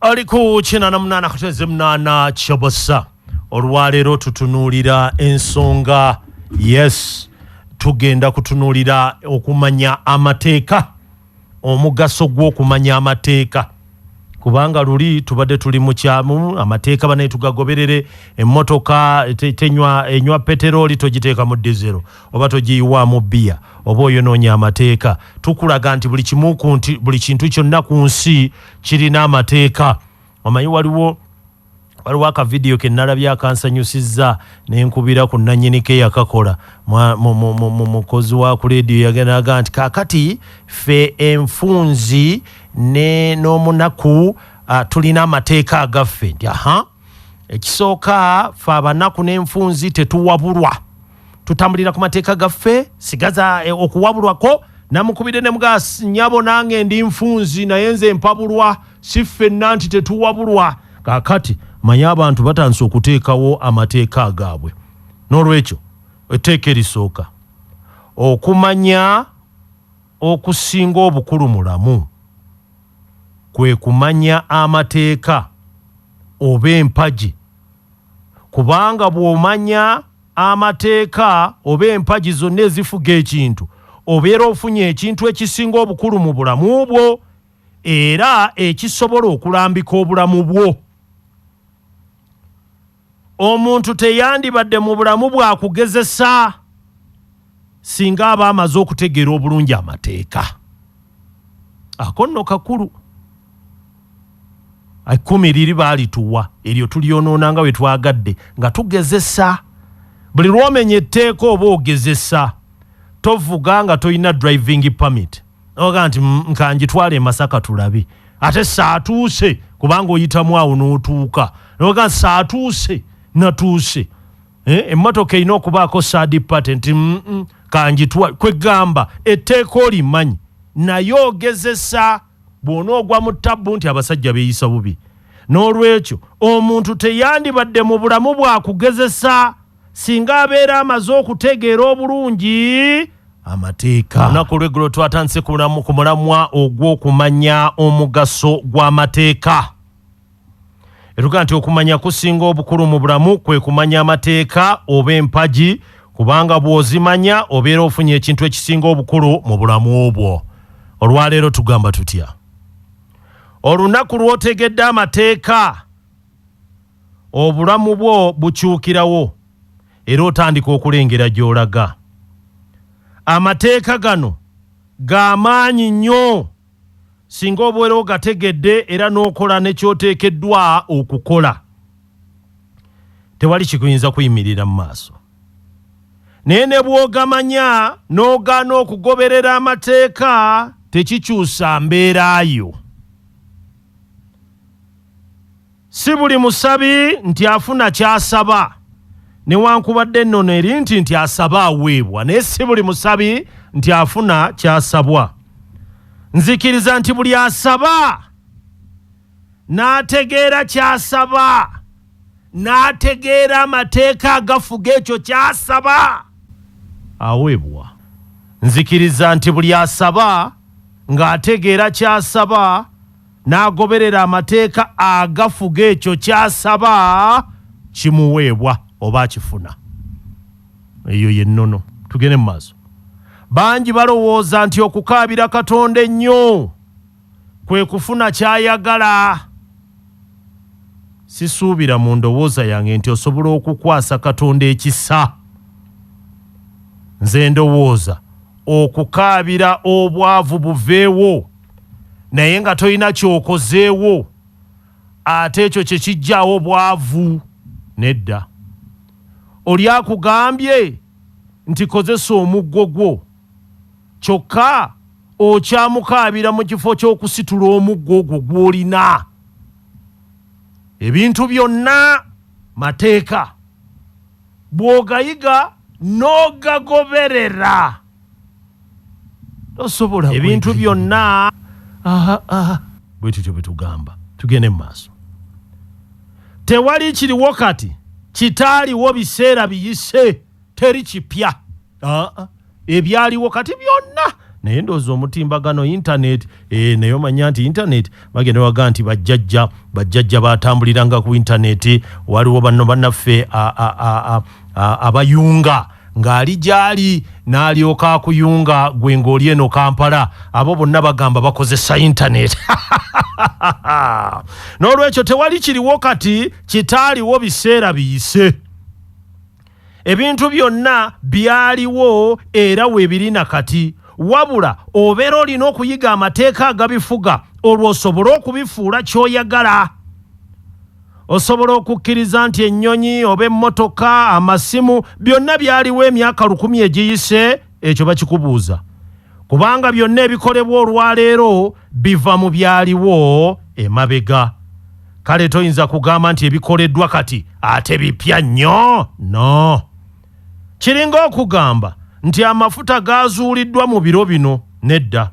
ali ku kinana munana kateze munana kyobosa olwaleero tutunuulira ensonga yes tugenda kutunuulira okumanya amateeka omugaso gw'okumanya amateeka kubanga luli tubadde tuli mukyamu amateeka banaye tugagoberere emmotoka tenywa enywa peteroli togiteeka mu dizero oba togiyiwaamu biya oba oyonoonya amateeka tukulaga nti buli kimu buli kintu kyonna ku nsi kirina amateeka omanyi waliwo waliwo akavidiyo ke nalabye akansanyusizza ne nkubira ku nannyinike yakakola mukozi wa ku leediyo yagendaga nti kakati fe enfunzi n'omunaku ah, tulina amateeka agaffe nti aha ekisooka fe abanaku n'enfunzi tetuwabulwa tutambulira ku mateeka gaffe sigaza eh, okuwabulwako namukubidde ne mugas nyabo nange ndi nfunzi naye nze mpabulwa si ffenna nti tetuwabulwa kakati manye abantu batandise okuteekawo amateeka agaabwe n'olwekyo etteeka erisooka okumanya okusinga obukulu mulamu kwe kumanya amateeka oba empagi kubanga bw'omanya amateeka oba empagi zonna ezifuga ekintu, obeera ofunye ekintu ekisinga obukulu mu bulamu bwo era ekisobola okulambika obulamu bwo. Omuntu teyandibadde mu bulamu bwa kugezesa singa aba amaze okutegeera obulungi amateeka. Ako nno kakulu. Ekkumi liri baalituwa, eryo tulyonoona nga bwe twagadde, nga tugezesa. Buli lw'omenya etteeka oba ogezesa. Tovuga nga tolina driving permit. Oga nti mm, ka ngitwale e Masaka tulabe. Ate saatuuse kubanga oyitamu awo n'otuuka. Oga nti saatuuse, natuuse. Eh, emmotoka erina okubaako saadi pate nti mm, mm, ka ngitwale. Kwe gamba etteeka olimanyi naye ogezesa. Bw'onoogwa mu ttabbu nti abasajja beeyisa bubi, n'olwekyo omuntu teyandibadde mu bulamu bwa kugezesa singa abeera amaze okutegeera obulungi amateeka. Olunaku olw'eggulo twatandise ku mulamwa ogw'okumanya omugaso gw'amateeka. Etuga nti okumanya kusinga obukulu mu bulamu kwe kumanya amateeka oba empagi kubanga bw'ozimanya obeera ofunye ekintu ekisinga obukulu mu bulamu obwo. Olwaleero tugamba tutya? Olunaku lw'otegedde amateeka obulamu bwo bukyukirawo era otandika okulengera gy'olaga. Amateeka gano ga maanyi nnyo. singa obeera ogategedde era n'okola ne ky'oteekeddwa okukola, tewali kikuyinza kuyimirira mu maaso. Naye ne bw'ogamanya n'ogaana okugoberera amateeka, tekikyusa mbeera yo. Si buli musabi nti afuna ky'asaba newankubadde ennono eri nti nti asaba aweebwa naye si buli musabi nti afuna ky'asabwa. Nzikiriza nti buli asaba n'ategeera ky'asaba n'ategeera amateeka agafuga ekyo ky'asaba aweebwa. Nzikiriza nti buli asaba ng'ategeera ky'asaba n'agoberera amateeka agafuga ekyo ky'asaba kimuweebwa oba akifuna eyo yennono tugende mu maaso bangi balowooza nti okukaabira katonda ennyo kwe kufuna ky'ayagala sisuubira mu ndowooza yange nti osobola okukwasa katonda ekisa nze ndowooza okukaabira obwavu buveewo naye nga tolina kyokozeewo ate ekyo kyekijjaawo bwavu nedda oli akugambye nti kozesa omuggo gwo kyokka okyamukaabira mu kifo ky'okusitula omuggo ogwo gw'olina ebintu byonna mateeka bw'ogayiga n'ogagoberera tosobola ebintu byonna bwe tutyo bwe tugamba tugende mu maaso tewali kiriwo kati kitaaliwo biseera biyise teri kipya ebyaliwo kati byonna naye ndooza omutimbagano intaneti eh, naye omanya nti intaneti bagenda waga nti bajjajja bajjajja batambuliranga ku intaneti waliwo banno bannaffe abayunga ng'ali gy'ali n'alyoka akuyunga gwe ng'oli eno kampala abo bonna bagamba bakozesa intaneti n'olwekyo tewali kiriwo kati kitaaliwo biseera biyise ebintu byonna byaliwo era weebiri na kati wabula obeera olina okuyiga amateeka agabifuga olwo osobole okubifuula ky'oyagala Osobola okukkiriza nti ennyonyi oba emmotoka, amasimu, byonna byaliwo emyaka lukumi egiyise? Ekyo bakikubuuza kubanga byonna ebikolebwa olwaleero biva mu byaliwo emabega. Kale toyinza kugamba nti ebikoleddwa kati ate bipya nnyo. No. Kiringa okugamba nti amafuta gaazuuliddwa mu biro bino. Nedda.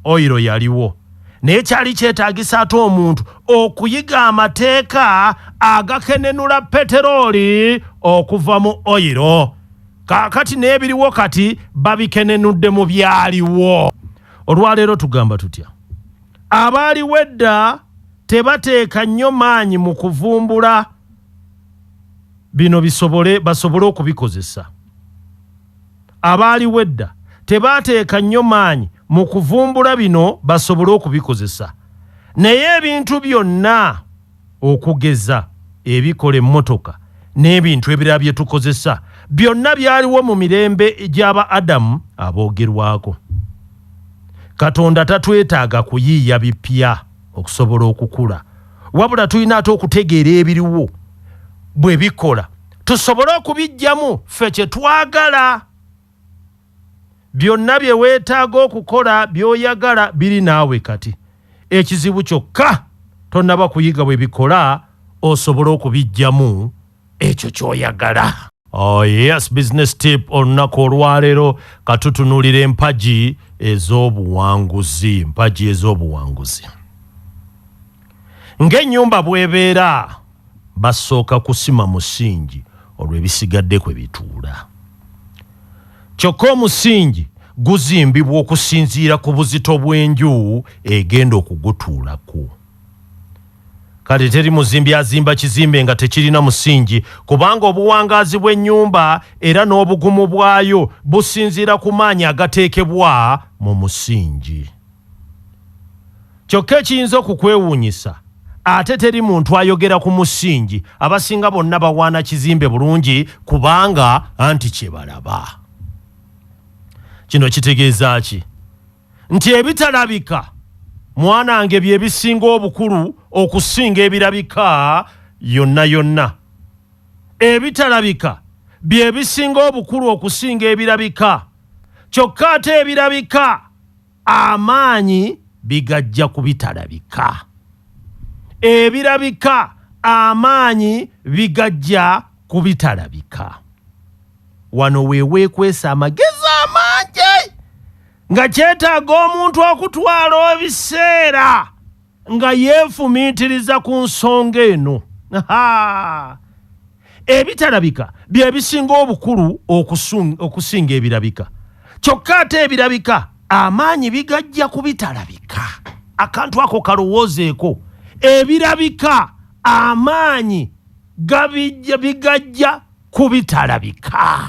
oyiro yaliwo naye kyali kyetaagisa ate omuntu okuyiga amateeka agakenenula peterooli okuva mu oyiro kaakati n'ebiriwo kati babikenenudde mu byaliwo olwaleero tugamba tutya abaaliwo edda tebateeka nnyo maanyi mu kuvumbula bino bisobole basobole okubikozesa abaaliwo edda tebaateeka nnyo maanyi mu kuvumbula bino basobole okubikozesa. Naye ebintu byonna okugeza ebikola emmotoka n'ebintu ebirala bye tukozesa, byonna byaliwo mu mirembe gya ba Adamu aboogerwako. Katonda tatwetaaga kuyiiya bipya okusobola okukula, wabula tulina ate okutegeera ebiriwo bwe bikola tusobole okubiggyamu ffe kye twagala byonna bye weetaaga okukola by'oyagala biri naawe kati ekizibu kyokka tonnaba kuyiga bwe bikola osobole okubiggyamu ekyo ky'oyagala Oh yes, business tip olunaku olwaleero katutunulira empagi ez'obuwanguzi empagi ez'obuwanguzi ng'ennyumba bw'ebeera basooka kusima musingi olwo ebisigadde kwe bituula. Kyokka omusingi guzimbibwa okusinziira ku buzito bw'enju egenda okugutuulako. Kale teri muzimbi azimba kizimbe nga tekirina musingi kubanga obuwangaazi bw'ennyumba era n'obugumu bwayo businziira ku maanyi agateekebwa mu musingi. Kyokka ekiyinza okukwewuunyisa, ate teri muntu ayogera ku musingi, abasinga bonna bawaana kizimbe bulungi kubanga anti kye balaba. Kino kitegeeza ki? Nti ebitalabika mwanange bye bisinga obukulu okusinga ebirabika yonna yonna. Ebitalabika bye bisinga obukulu okusinga ebirabika, kyokka ate ebirabika amaanyi bigajja ku bitalabika ebirabika amaanyi bigajja ku bitalabika wano weweekwesa amagezi amangi nga kyetaaga omuntu okutwala ebiseera nga yeefumiitiriza ku nsonga eno ebitalabika bye bisinga obukulu okusinga ebirabika kyokka ate ebirabika amaanyi bigajja ku bitalabika akantu ako kalowoozeeko ebirabika amaanyi gabijja bigajja ku bitalabika